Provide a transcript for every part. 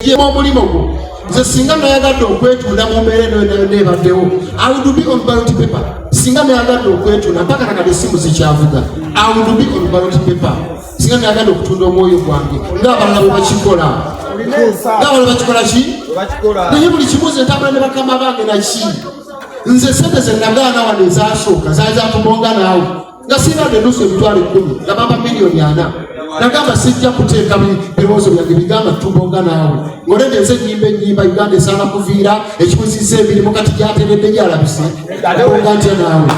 yemu omulimu gwo nze singa nayagadde okwetunda mu mbeera enoyonayona ebaddewo awudubi on balot paper singa nayagadde okwetunda mpaka nakade esimu zikyavuga awudubi on balot paper singa nayagadde okutunda omwoyo gwange ngaabalala bwe bakikola ngaabalala bakikola ki naye buli kimu nze ntambula ne bakama bange naki nze sente zenagaana wano ezasooka zaali zakubonga naawe nga sirina nenusu emitwalo ekkumi nga bamba miliyoni ana nagamba sijja kuteeka birowoozo byange bigamba tubonga naawe ngolede nze enyimba enyimba uganda esaana kuviira ekibuziza emirimu kati gyateredde gyalabise bonga ntya naawe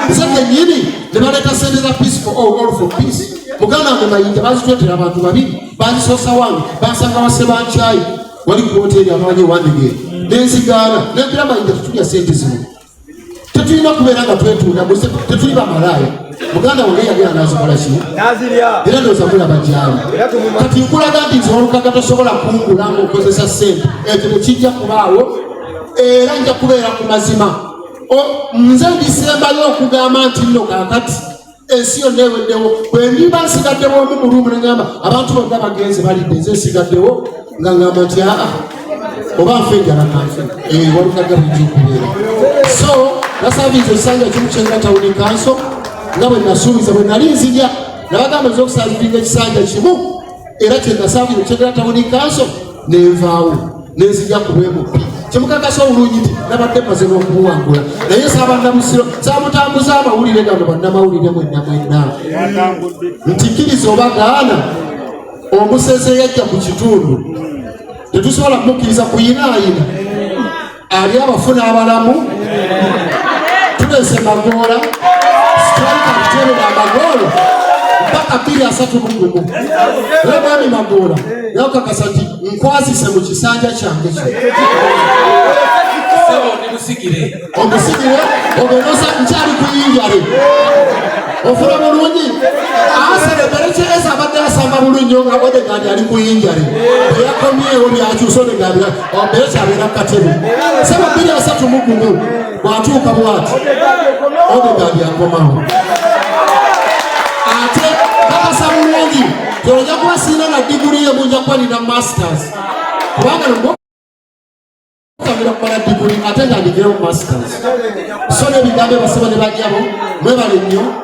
nze kenyini ne baleeta sente za peace for all all for peace muganda wange mayinja bazitwetera abantu babiri bazisoosa wange bansanga wase bankyayi wali kuwoteeri amanyi ewandegeera nenzigaana nembira mayinja tutulya sente zino tetulina kubeera nga twetunda tetuli bamalaaya muganda wange yagera nazikola ki era ndoza kulaba gyali kati nkulaga nti nze olukaga tosobola kungula nga okozesa sente ekyo tekijja kubaawo era nja kubeera ku mazima nze ndisembayo okugamba nti nno kakati ensi yonna eweddewo bwendimba nsigaddewo omu mulumu neŋamba abantu bonna bagenze balidde nze nsigaddewo nga ŋamba nti aa oba nfe enjala kanfe eyo eh, walukadde bujja okubeera so nasabiiza ekisanja kimu kyenda tawuni kanso nga bwe nasuubiza bwe nali nzija nabagamba nza okusaaziringa ekisanja kimu era kyenasabye okyogera tawuni kanso nenvaawo nenzija kubwemupi kyemukakasa obulungi nti nabadde maze nokubuwangula naye sabannamusiro samutambuza amawulire gano bannamawulire mwenna mwenna nti kkiriza oba gaana omuseze yajja ku kitundu tetusobola kumukkiriza kuyinaayina ali abafuna abalamu tulese magoola sitalika kuterera amagoolo mpaka bbiri asatu mugumu era mwami magoola yakakasa nti nkwasise mu kisanja kyange kyo omusigire omusigire oberosa nkyali kuyinjale ofuna bulungi asere berekyereza abadde asamba bulungi nga odegandi ali kuyinjale eyakomyewo byakyusa odegandi ombeezi abeera katebe saba bbiri asatu mu gumu bw'atuuka bw'ati odegaadi akomawo ate kakasa bulungi gy'oja kuba sirina na diguli ye munja kuba nina masters kubanga nokamira kumala diguli ate nga ndigeyo masters so n'ebigambo ebasaba ne bajjabo mwebale nnyo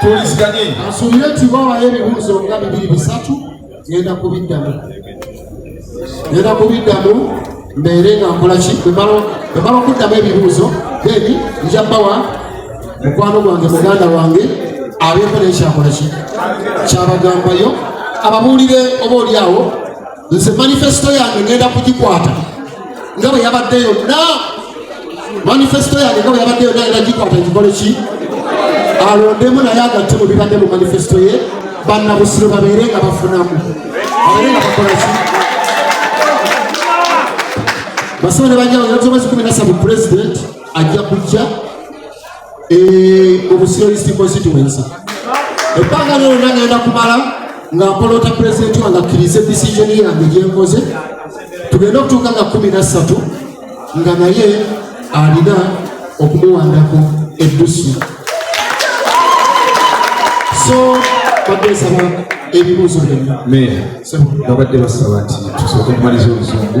tuwuliziganye asubire nti bawayo ebibuuzo nga bibiri bisatu ngenda kubiddamu ngenda kubiddamu mbeere nga nkolaki bwemala okuddamu ebibuuzo then nja bawa mukwano gwange muganda wange abeeko nekyakolaki kyabagambayo ababuulire oba olyawo nze manifesito yange ngenda kugikwata nga bwe yabadde yonna manifesito yange nga bwe yabadde yonna ngenda gikwata gikole ki alondemu naye agatte mu bibadde mu manifesito ye bannabusiro babeere nga bafunamu abeere nga bakola ki basaba ne banyawo yatobezi kumi nasatu pulezidenti ajja kujja eh, obusiolisi constituency ebbanga lyonna ngenda kumala nga mpolota pulezidenti wange akkirize decision yange gyenkoze tugenda okutuuka nga kumi na ssatu nga naye alina okumuwandako eddusu so badde nsaba ebibuuzo byonna babadde basaba nti tusooke okumaliza oluzungu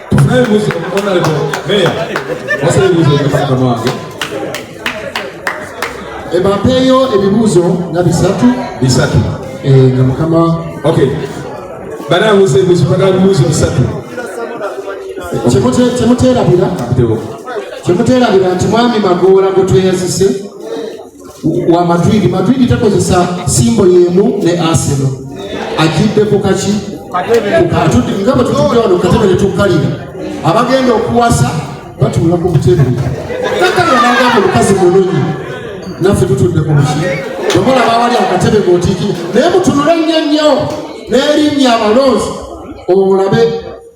ebapeeyo ebibuuzo nga bisatu bisatu eh, nga mukama okay banabuuza ebibuuzo bagala bibuuzo bisatu kyemuteerabira kyemuteerabira nti mwami magoola gwe tweyazise wa Madrid. Madrid takozesa simbo yemu ne Arsenal. Ajidde ku kaki? Atudde nga bwe tutudde wano katebe ne tukkalira. Abagenda okuwasa batuula ku butebe. Kakkalira n'agamba omukazi mulungi naffe tutudde ku buki. Wabula baawali akatebe ng'otiikira naye mutunule nnyo nnyo n'erinnya abalonzi olabe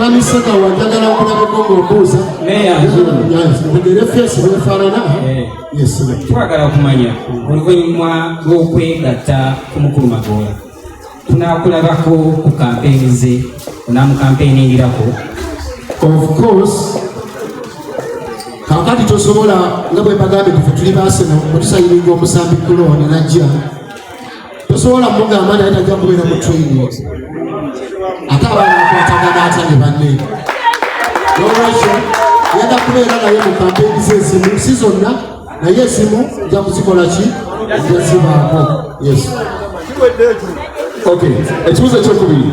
bamiseka eh, wanjagala okulabeko ngaobuuza mugere fesi bwefaanana eh. twagala okumanya oluvannyuma lw'okwegatta ku mukulu magoola tunakulabako ku kampeyini ze onamukampeyiningirako of course kakati tosobola nga bwebagambye tufe tuli basena otusayiringa omusambi kulooni najja tosobola mugamba naye tajja kubeera mu training ate abaana bakwatagana atya ne banne nolwekyo yada kubeera naye mu kampeyini zezimu si zonna naye esimu nja kuzikola ki njazibaako yes ekibuzo ekyokubiri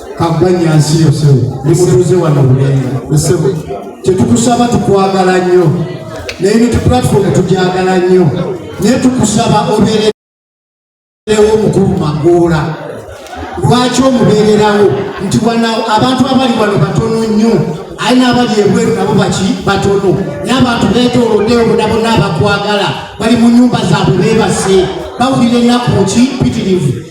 kabbanya nsi yo sebo nemutuuze wano bulenga sebo kyetukusaba tukwagala nnyo naye ne tuplatform tugyagala nnyo naye tukusaba obeerewo omukulu magoola lwaki omubeererawo nti wana abantu abali wano batono nnyo aye n'abali ebweru nabo baki batono naye abantu beetooloddeyo bona bona abakwagala bali mu nyumba zaabwe beebase bawulira ennaku ki pitirivu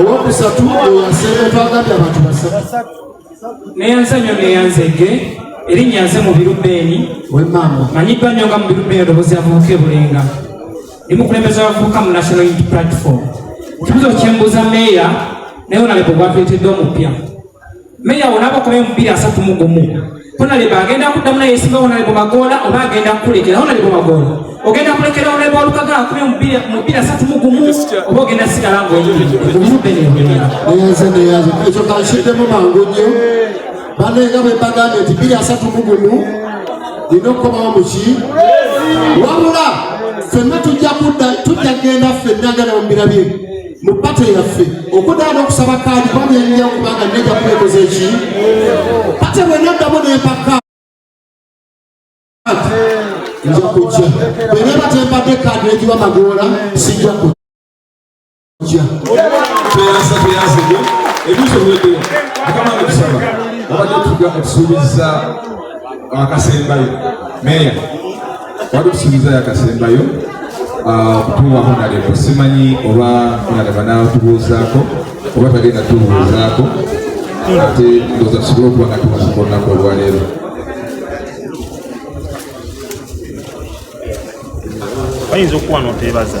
owokusatu owasemba twagambye abantu basatu neyanzanyo neyanzege erinnya nze mubiru beeni manyiddwa nnyo nga mubiru beeni odobozi avubuka ebulenga ndi mukulembeza abavubuka mu national unity platform ekibuzo kyembuuza meeya naye onaleko gwatuleteddwa omupya Meya wona abakuba emipiira asatu mu gumu honalebo agenda kuddamu naye esinga honalebo magoola oba agenda kukulekera honalebo magoola ogenda kulekera honalebo walukaga akuba omupiira asatu mu gumu oba ogenda sigala ngaekyo kankiddemu mangu nnyo banenga bebagambye nti biri asatu mu gumu lina okukomawo muki wabula fenna tujja kudda tujja kugenda fenna gana mu birabye mu pato yaffe okudaa n'okusaba kaadi kuba byanyira kubanga nneja kubekoza eki ate bwenaddamu nempaka nja kujja bweneba tembadde kaadi negiwa magoola sijja kujja ebiso bwedeo akama nekusaba abadde tuga okusuubiza akasembayo meya wali kusuubiza yakasembayo ah, okutuwa honalebo simanyi oba honalebo anatubuuzaako oba tagenda tubuuzaako ate ndoza tusobole okuba nga tubuuza olunaku olwaleero bayinza okuwa noteebaza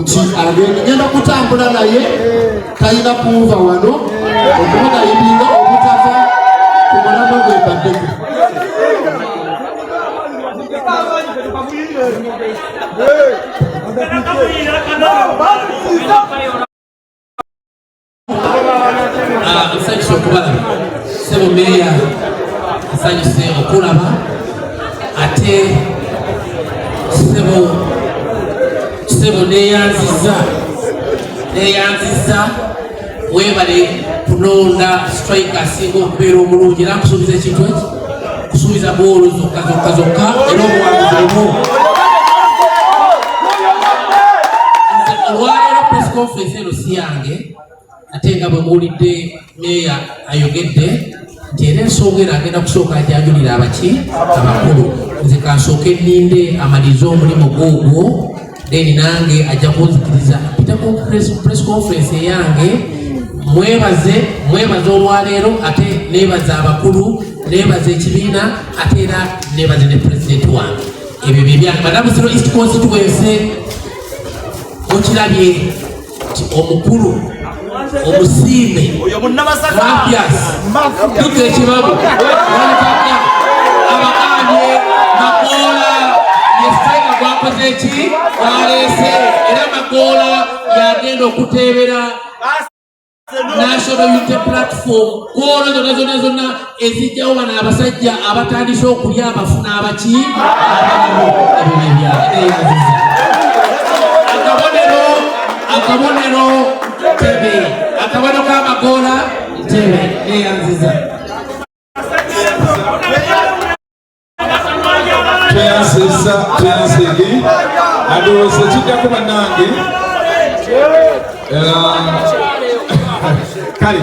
nti agenda kutambula naye talina kuwuva wano okumugayibinga obutava ku mulama gwe baddeko Hey! nsanyusa okubalaba sebo meeya nsanyuse okulaba ate sebo sebo neyanziza neyanziza webale kulonda strike asinga okubeera omulungi era nkusuubiza ekintu eki kusuubiza goolo zokka zokka zokka era obuwanguzi omu olwaleero press conference eno si yange ate nga bwe muwulidde meeya ayogedde nti era ensonga eno agenda kusooka ajanjulira abaki abakulu nze kansooke nninde amalize omulimu gwogwo then nange ajja kunzikiriza mpitako press conference eyange mwebaze mwebaze olwaleero ate nebaza abakulu nebaza ekibiina ate era nebaze ne pulezidenti wange ebyo byebyange banabuziro east constituency mukirabye kati omukulu omusiime mafias dukka ekibabu walipaka abakanye makoola yesitaga gwakoze ki gwaleese era makoola yagenda okuteebera National Unity Platform kwona zonna zonna zonna ezijjawo bano abasajja abatandise okulya abafu n'abaki akabonero akabonero ntebe akabonero k'amagoola ntebe neyanziza tweyanziza tweyanzege adowooza ekiddako bannange kale